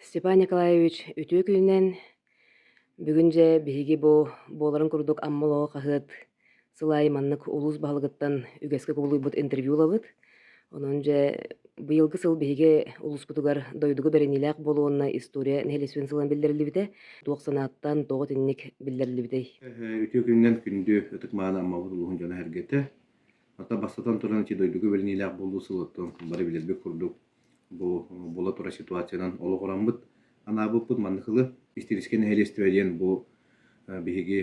Степан Николаевич үтүө күнүнэн бүгүн дьэ биһиги бу буоларын курдук Амма олоҕо хаһыат сыл аайы маннык улуус баһылыгыттан үгэскэ кубулуйбут интервью ылабыт. Онон дьэ быйылгы сыл биһиги улууспутугар дойдуга бэриниилээх буолуонна история нэһилиэстибин сылынан биллэриллибитэ, туох санааттан, тоҕо итинник биллэриллибитэй? Үтүө күнүнэн күндү ытык мааны Аммабыт улууһун дьоно-сэргэтэ. Хата бастатан туран ити дойдуга бэриниилээх буолуу сылыттан бары билэрбит курдук Бу була турар ситуациянан олоҕураммыт анаабыппыт маннык тылы Истириискэ нэһилиэстибэ диэн бу биһиги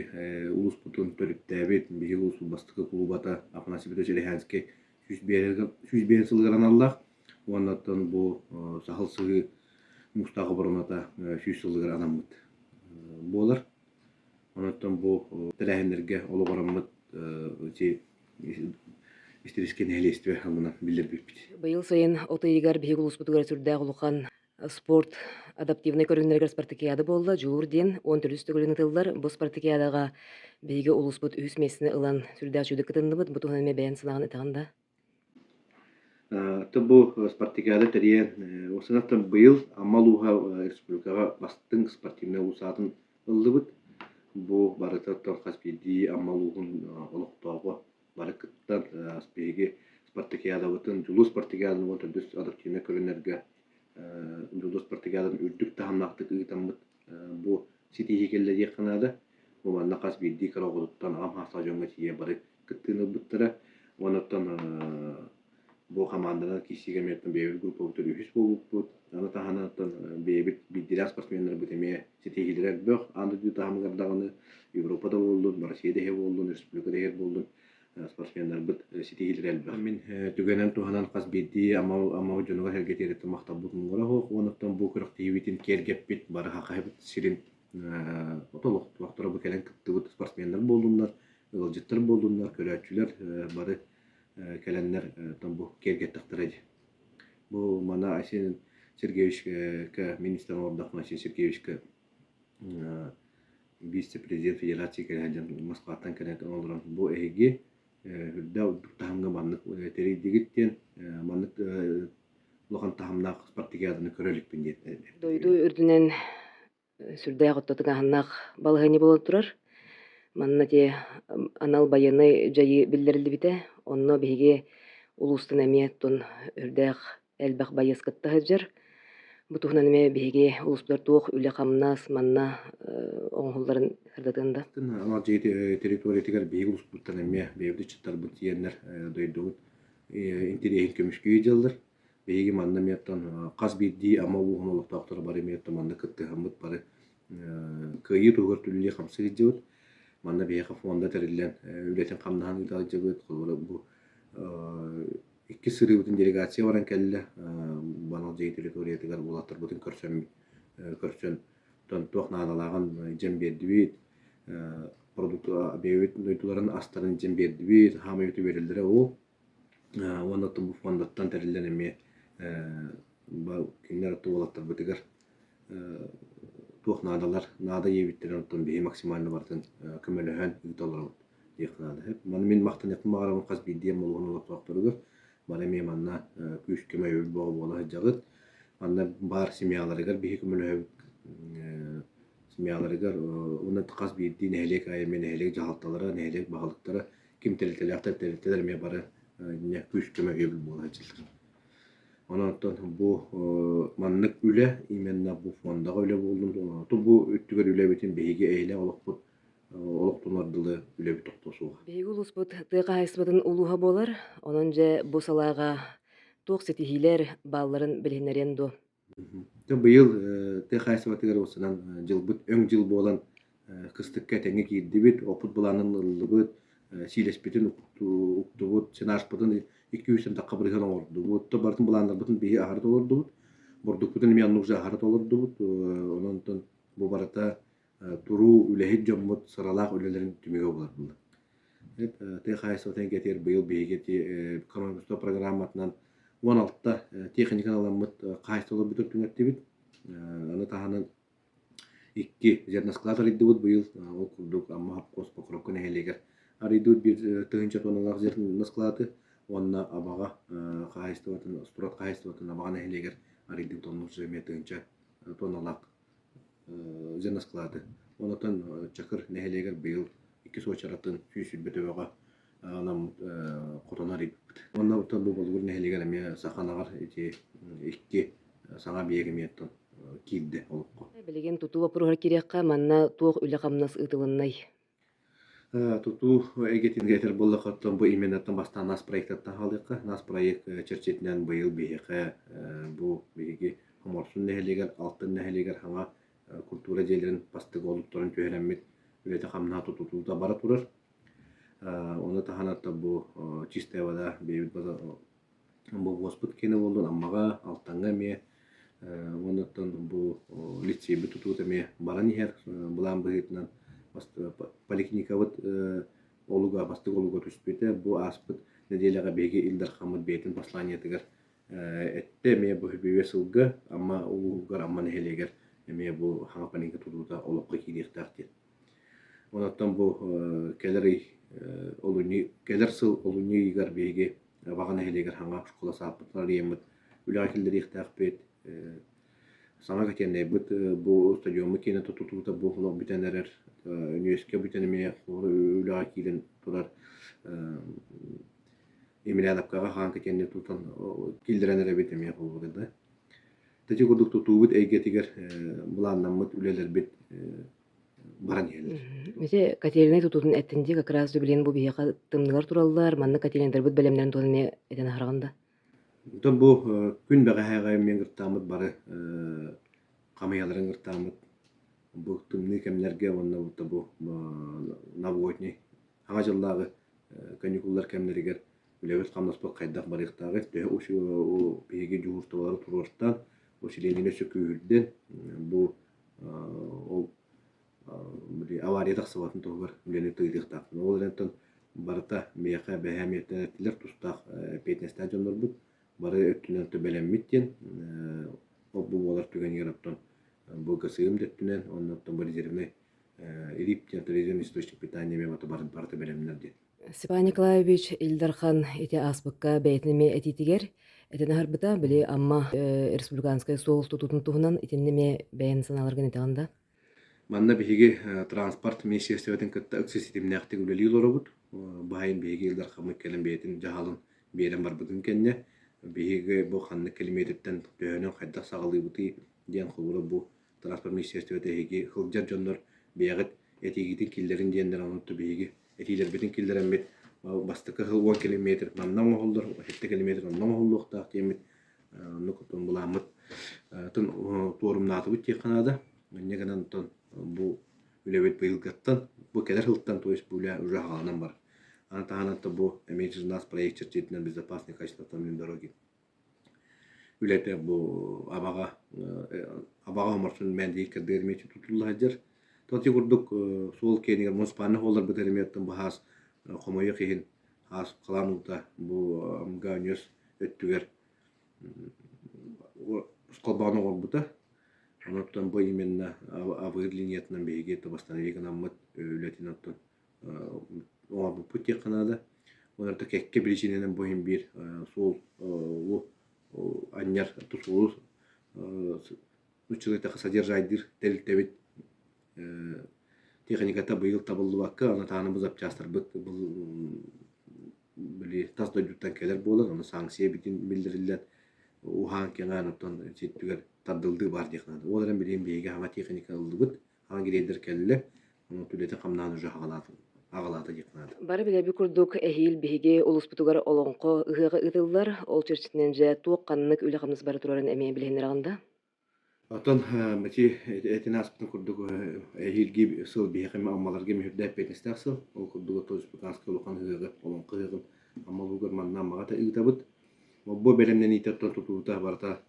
улууспутун төрүттээбит биһиги улуус бастакы кулубата Афанасьевич Лиһянский сүүс биэс сылыгар аналлаах уонна оттон бу саһыл сыһыы муустаах обороната сүүс сылыгар анаммыт буолар Оттон бу тэрээһиннэргэ олоҕураммыт ити истирискэ нэһилиэстибэ аҥынан биллэрбиппит. Быйыл сайын от ыйыгар биһиги улууспутугар сүрдээх улахан спорт адаптивнай көрүҥнэригэр спартакиада буолла. Дьуур диэн он төрүс төгүлүн ыытыллар. Бу спартакиадаҕа биһиги улууспут үһүс миэстэни ылан сүрдээх чудо кытынныбыт. Бу туһунан эмиэ бэйэн санаҕын этэҕин да? Оттон бу спартакиада тэрийэн, ол санатан быйыл Амма улууһа республикаҕа бастыҥ спортивнай уус аатын ыллыбыт. Бу барытыттан хас биирдии Амма улууһун олохтооҕо бары кыттан биһиги спартакиадабытын, дьулус спартакиадабытын төрдүс адаптивнай көрүҥнэргэ дьулус спартакиадатын үрдүк таһымнаахтык ыытаммыт бу ситиһии кэллэ диэххэ наада. Бу манна хас биирдии кыраҕытыттан аҕам хаастаах дьоҥҥо тиийэ бары кыттыыны ылбыттара. Онуттан бу хамаанданан киирсиигэ эмиэтин бэйэбит группабытыгар үһүс буолбуппут. Аны таһынан бэйэбит биирдиилээх спортсменнарбыт эмиэ ситиһиилэрэ элбэх. Аан дойду таһымыгар даҕаны Европа да буоллун, Россия да иһэ буоллун, республика да иһэ буоллун, спортсменнарбыт ситиһиилэрэ элбэх. Мин түгэнэн туһанан хас биирдии амал амал дьонугар сэргэтиэриттэн махталбыт муҥура уһук уонуттан бу күрэхтэһиибитин киэргэппит, барыха хаһыппыт сирин олохторо бу кэлэн кыттыбыт спортсменнар буоллуннар, ыалдьыттар буоллуннар, көрөөччүлэр бары кэлэннэр бу киэргэттэхтэрэ дии. Бу мана Айсен Сергеевичкэ министрэн олордоххуна Айсен Сергеевичкэ вице-президент федерация кэлэ сылдьан Москваттан кэлэн олорон бу эһиги үрдэ үрдүк таһымҥа маннык тэрийдигит диэн маннык улахан таһымнаах спартакиаданы көрө иликпин диэн дойду үрдүнэн сүрдээх оттотук аһыннаах балаһыанньа буола турар манна те анал байыаннай дьайыы биллэриллибитэ онно биһиги улуустан эмиэ тун үрдээх элбэх байыас кытта сылдьар. Бу туһунан эмиэ биһиги улуустар туох үлэ-хамнас манна оҥоһулларын сырдатыан да. Анал дьиэ территориятыгар биһиги улууспуттан эмиэ бэйэбит ыччаттарбыт тиэннэр дойдубут интэриэһин көмүскүү дьыллар. Биһиги манна эмиэттэн хас биирдии Амма улууһун олохтоохторо бары эмиэттэн манна кыттыһаммыт бары кыайыы туһугар түллүү хамсыы сылдьабыт. Манна биһиэхэ фонда тэриллэн үлэтин хамнаһын ыыталдьыбыт, холобура бу иккис сырыыбытын делегация баран кэллэ. Банал дьиэ территориятыгар уолаттарбытын көрсөн көрсөн туох наадалааҕын илдьэн биэрдибит. Продукт бэйэбит дойдуларын астарын илдьэн биэрдибит. Хаамай үтү биэрэллэрэ ол. Уонна Тумбу фондаттан тэриллэн эмиэ кинилэр уолаттарбытыгар туох наадалар наада диэбиттэрин оттон биһи максимально барытын көмөлөһөн ыыта олоробут диэх наадыһыт маны мин махтаныахпын баҕарабын хас биирдии молуһун олохтоохторугар бары эмиэ манна күүскэ өйөбүл бөҕө буола сылдьаҕыт манна баар семьяларыгар биһи көмөлөһөбүт семьяларыгар уонна хас биирдии нэһилиэк аайы эмиэ нэһилиэк дьаһалталара нэһилиэк баһылыктара ким тэрилтэлээхтэр тэрилтэлэр эмиэ бары күүс көмө өйөбүл буола сылдьаллар Онон бу маннык үлэ именно бу фондаҕа үлэ буоллун тоҕо бу өттүгэр үлэбитин биһиги эһинэ олохпут олохтонор дылы үлэбит тохто суох. Биһиги улууспут тыа хаһаайыстыбатын улууһа буолар, онон дьэ бу салааҕа туох ситиһиилэр баалларын билиһиннэриэн дуо? Быйыл тыа хаһаайыстыбатыгар уопсанан дьылбыт өҥ дьыл буолан кыстыкка этэҥҥэ киирдибит, опут былаанын ыллыбыт, сиилэспитин уктубут, сенажпытын икки-үс ардахха быһыан оҥордубут. То барытын былааннарбытын биһи аһара толордубут. Бурдукпутун эмиэ оннук дьэ аһара толордубут. Онон бу барыта туруу үлэһит дьоммут сыралаах үлэлэрин түмүгэ буларбыллар. Тыа хаһайыстыбатын кэтиэр быйыл биһиги экономика программатынан уон алта тиэхиньикэ аламмыт хаһайыстыба олорбутун түҥэттибит. Аны таһынан икки зерноскалаат арыйдыбыт быйыл. Ол курдук Амма ХАПКОС Покровка нэһилиэгэр арыйдыбыт биир тыһыынча тонналаах зерноскалааты уонна Абаҕа хаһайыстыбатын, Спорт хаһайыстыбатын Абаҕа нэһилиэгэр арыйдыбыт онно эмиэ тыһыынча тонналаах Зенасклады. Онотон Чакыр нэһилиэгэр быйыл иккис уочаратын сүүс сүүрбэ төбөҕө анаммыт хотоно арыйбыппыт. Онно бу Болугур нэһилиэгэр эмиэ саха ынаҕар ити икки саҥа биээгимиэттэн киирдэ олоххо. Билигин тутуу боппуруоһа киириэххэ, манна туох үлэ-хамнас ыытылыннай? Тутуу эйгэтин кэтэр буоллаххыттан бу именно бастаан НАС проектаттан хаалыахха. НАС проект чэрчитинэн быйыл биһиэхэ бу биһиги Хоморсун нэһилиэгэр, Алтын нэһилиэгэр хаҥа культура дьиэлэрин бастыҥ олуктарын түһэрэммит үлэтэ-хамнаһа тутутуута бара турар. Ону таһынан бу чистая вода бэйэбит Бобуоспут киэнэ буоллун Аммаҕа, Алтаҥҥа эмиэ уонуттан бу лицейбыт тутуута эмиэ баран иһэр былаан быһыытынан поликлиникабыт олуга бастакы олуга түспүтэ бу ааспыт нэдиэлэҕэ биһиги Ил Дархаммыт бэйэтин посланиетыгар эттэ эмиэ бу бүбүө сылга Амма улууһугар Амма нэһилиэгэр эмиэ бу саҥа поликлиника тутуута олоххо киириэхтээх диэн Оттон бу кэлэр ый олунньу кэлэр сыл олунньу ыйыгар биһиги Ваҕа нэһилиэгэр хаҥа оскуола сааппытын арыйаммыт, үлэҕэ киллэриэхтээхпит, саҥа котельнайбыт бу стадиоммут киэнэ тутулута бу олох бүтэн эрэр, үниверситетка бүтэн эмиэ үлэҕэ киирэн турар, Емельяновкаҕа хаан котельнай тутан киллэрэн эрэбит эмиэ буолбута да. Ити курдук тутуубут эйгэтигэр былааннаммыт үлэлэрбит баран иһэллэр. Ити котельнай тутуутун эттин дии как раз билин бу биһиэхэ тымныылар тураллар, манна котельнайдарбыт бэлэмнэрин туһунан эмиэ этэн аһараҕын да? Оттон бу күн бэҕэһээҕи миэн гыртааммыт бары хамыйаларын гыртааммыт бу тымныы кэмнэргэ уонна бу наводней Саҥа дьыллааҕы каникуллар кэмнэригэр үлэбит-хамнаспыт хайдах барыахтааҕый, төһө биһиги дьуһуурталары туруортан, бу силиэдинэй өссө күүһүрдэн, бу ол авария тахсыбатын туһугар үлэни тыйдыахтаахпын. Ол эрээттэн барыта миэхэ бэһээ миэттэнэттилэр тустаах эппиэтинэстээх дьоннорбут бары өттүнэн төбөлөммүт диэн ол бу буолар түгэнигэр оттон бу ГСИ-м да өттүнэн, онно оттон резервнэй Ирипте, туризм источник питания мемата барыта бэлэмнэр диэн. Степан Николаевич Ил Дархан ити ааспыкка бэйэтин эмиэ этиитигэр этэн аһарбыта, били Амма республиканскай суол тутуутун туһунан итиннэ эмиэ бэйэн санааларгын этэҕин да? Манна биһиги транспорт министерствотын кытта ыкса ситимнээхтик үлэлии олоробут. Баайын биһиги Ил Дархаммыт кэлэн бэйэтин дьаһалын биэрэн барбытын кэннэ биһиги бу ханнык килэмиэтиртэн төһөнөн хайдах саҕалыыбытый диэн холобура бу транспорт министерствота эһиги сылдьар дьоннор бэйэҕит этиигитин киллэрин диэннэр онутта биһиги этиилэрбитин киллэрэммит бастакы сыл уон километр манна оҥоһуллар сэттэ километр онно оҥоһуллуохтаах диэммит оннук отон былааммыт тын туорумнаатыбыт диэххэ наада инньэ гынан бу үлэбит быйылгаттан бу кэлэр сылтан то есть бу үлэ уже хааланан бар аны таһынан бу Emergency нас проект дьиэтинэн безопасный качество автомобильной дороги үлэтэ бу абаҕа абаҕа оморсун мээндиги кэрдэрэмиэти тутуллаһадьар тоти курдук суол киэнигэр муниципальнай холлорбут эрэмиэттэн бу хаас хомойуох иһин хаас халаан уута бу гааньөс өттүгэр холбоон оҥорбута онуттан бу именно абыыр линиятынан биһиги это восстановить гынаммыт үлэтин оттон оҥорбуппут диэххэ наада. Олорто кэккэ биричиинэнэн бу иһин биир суол анньар тусуулу нуччалайтахха содержаайдыыр тэрилтэбит тиэхиньиката быйыл табыллыбакка, аны тааныбыт запчастарбыт били тас дойдуттан кэлэр буолан, ону санкция бүтүн биллэриллэн уһаан кэҥээн оттон ситтүгэр тардыллыы баар диэх наада. Ол эрэн билигин биһиги хама тиэхиньикэ ыллыбыт, грейдер кэллэ үлэтин-хамнаһын уже аҕалаата диэх наада. Бары билэби курдук эһиил биһиги улууспутугар олоҥхо ыһыаҕа ыытыллар. Ол чэрчитинэн дьэ туох ханнык үлэ-хамнас бары турарын эмиэ билиһиннэр аҕында? Оттон бачи этин ааспытын курдук эһиилги сыл биһиэхэ аммаларга мүһүрдээппиэтестээх сыл. Ол курдук Тооспутанскай улахан ыһыаҕы, олоҥхо ыһыаҕын аммалуугар манна аммаҕата ыытабыт. Бу бэлэмнэниитэ тутуута барыта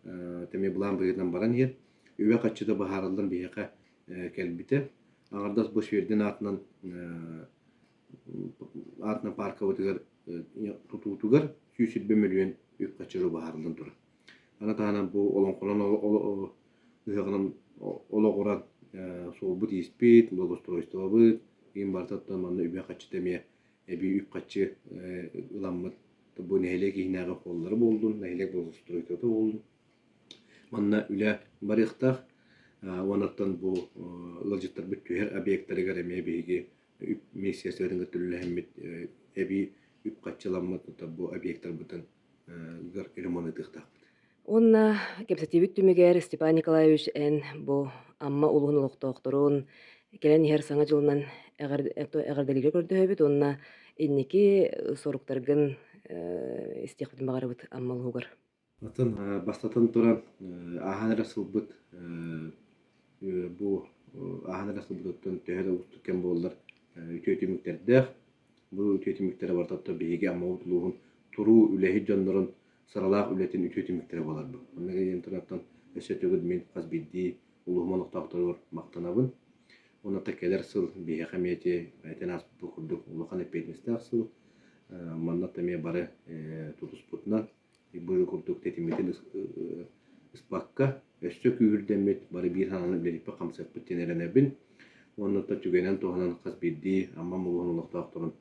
тэми былаан быһыытынан баран иһэр. үбэ хаччыта быһаарыллан биһиэхэ кэлбитэ. Аҥардас бу Свердин аатынан аатынан пааркабытыгар тутуутугар сүүс сирбэ мөлүйүөн үп хачыры быһаарыллан турар. Аны таһынан бу олоҥхолон ыһыаҕынан олоҕуран суолбут-ииспит, благоустройствобыт, иин барытыттан манна үбэ хаччыта эмиэ эбии үп хаччы ыламмыт. Бу нэһилиэк иһинээҕи холлары буоллун, нэһилиэк благоустройствота буоллун, Манна үлэ барыахтаах уонаттан бу ыалдьыттарбыт түһэр объектарыгар эмиэ биһиги үп миссияларын кытта үлэлэһиммит эбии үп-харчы ламмыт бу объектарбытын ремонтатыахтаахпыт. Уонна кэпсэтиибит түмүгэр Степан Николаевич эн бу Амма улууһун олохтоохторун кэлэн иһэр саҥа дьылынан эҕэрдэлииргэ көрдөһөбүт уонна инники соруктаргын истиэхпитин баҕарабыт Амма улууһугар. Атын бастатан туран ааһан эрэ сылбыт бу ааһан эрэ сылбытыттан төһө да уустук кэм буоллар үтүө түмүктэрдээх. Бу үтүө түмүктэрэ барыта ото биһиги Аммабыт улууһун туруу үлэһит дьоннорун сыралаах үлэтин үтүө түмүктэрэ буоларбыт. Онно диэн тураттан өссө төгүл мин хас биирдии улууһум олохтоохторугар махтанабын. Уонна кэлэр сыл биһиэхэ эмиэ этэн ааспыт курдук улахан эппиэтинэстээх сыл. Манна эмиэ бары тутуспутунан быһыы курдук тэтиммитин ыспакка, өссө күүһүрдэммит, бары биир санааны үлэлиппит, хамсаппыт диэн эрэнэбин. Уонна то түгэнэн туһанан хас биирдии Амма улууһун олохтоохторун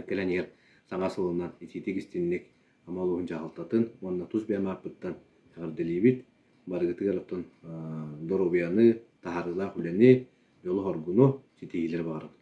кэлэн иһэр саҥа сылынан итиитик-истинник Амма улууһун дьаһалтатын уонна тус бэйэм ааппыттан эҕэрдэлиибит. Барыгытыгар оттон доруобуйаны, таһаарыылаах үлэни, дьолу-хоргуну ситиһиилэри баҕарабыт.